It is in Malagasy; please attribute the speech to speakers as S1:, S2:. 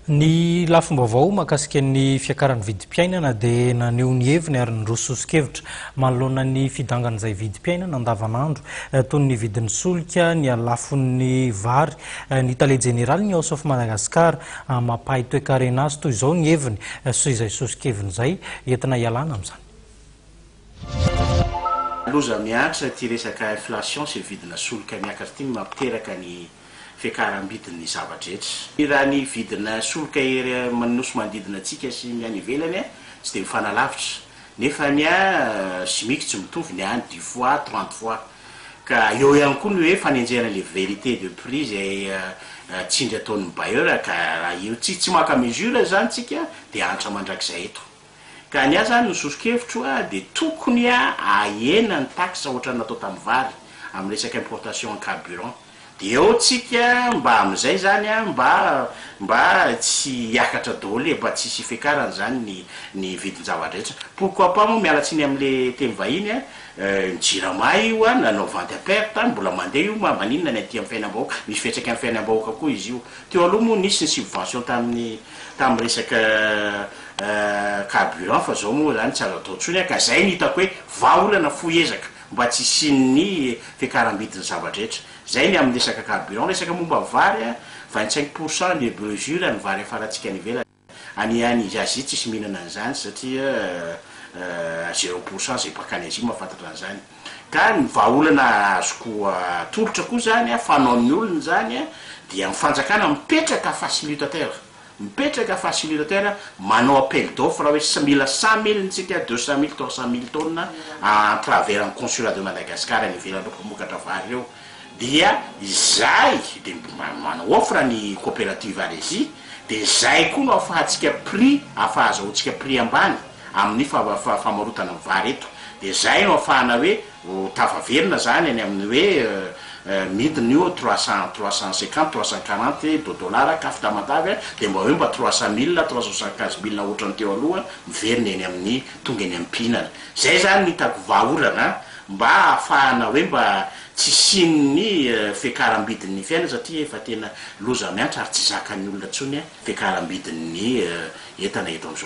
S1: Ny lafim-baovao mahakasika ny fiakaran'ny vidim-piainana dia naneho ny heviny ary niroso soso-kevitra manoloana ny fidangan'izay vidim-piainana andavanandro toy ny vidin'ny solika, ny halafon'ny vary. Ny tale jeneraly ny House of Madagascar mampahay toekarena azy toy izao ny heviny sy izay soso-keviny izay entina hialana amin'izany.
S2: Loza mihatra ity resaka inflation sy vidina solika miakatra ity no mampiteraka ny. fiakaram-bidin'ny zava-drehetra. Raha ny vidina solika ery amin'ny nosy manodidina antsika sy ny any ivelany tsy dia mifanalavitra, nefa ny chimique tsy mitovy, ny any dix fois, trente fois. Ka eo ihany koa ny hoe fanenjehana ilay vérité de prix izay tsindry ataon'ny bailleur ka raha io tsy tsy maka mesure izany tsika dia antra mandrakizay eto. Ka ny ahy zany ny sosokevitro a de tokony a ahena ny taxe ohatrany natao tam vary am resaka importation en carburant de eo tsika mba amizay zany a mba mba tsy hiakatra daoly e mba tsy hisy hifekarany zany ny ny vidin java dretra pourquoi pas moa miala tsiny am le teny vahiny a ny jirama io a nanao vente à perte a mbola mande io ma maninona ny aty am fiainam bahoaka misy fiantraikany am fiainam bahoaka koa izy io teo aloha moa nisy ny subvention taminy tamin'ny resaka carburant fa zao moa zany tsy azo atao tsony ka zay no hitako hoe vahaolana fohy ezaka mba tsy hisian'ny fiakarambidin'ny zava-drehetra zay ny amin'ny resaka carburant resaka momba ny vary a vingt cinq pour cent de mesure ny vary afarantsika any ivelany any any izy Asie tsisy mihinana an'izany satria zero pour cent zay baka any Asie mahafantatra an'izany Ka ny vahaolana azoko atolotra koa zany a, fanaon'ny olona izany a, dia ny fanjakana mipetraka facilitateur, mipetraka facilitateur manao appel d'offre hoe sa- mila cent mille ntsika, deux cent mille, trois cent mille tonnes à travers ny consulat de Madagascar any ivelany ireo mpamokatra vary ireo, dia izay dia mb- ma- manao offre ny coopérative Alesi, dia izay koa no afahantsika prix, afahazahoantsika prix ambany. amin'ny famarotana vary eto dia izay no afahana hoe ho tafaverina izany any amin'ny hoe midina io trois cent trois cent cinquante trois cent quarante de dollars kaf tamatave dia mba hoe mba trois cent mille trois cent soixante quinze mille ohatran'ny teo aloha miverina eny amin'ny tonga eny ampihinana izay izany no hitako vahaolana mba afahana hoe mba tsy hisian'ny fiakarambidin'ny fiainana satria efa tena loza miantra ary tsy zakan'ny olona intsony fiakarambidin'ny entana eto amin'izao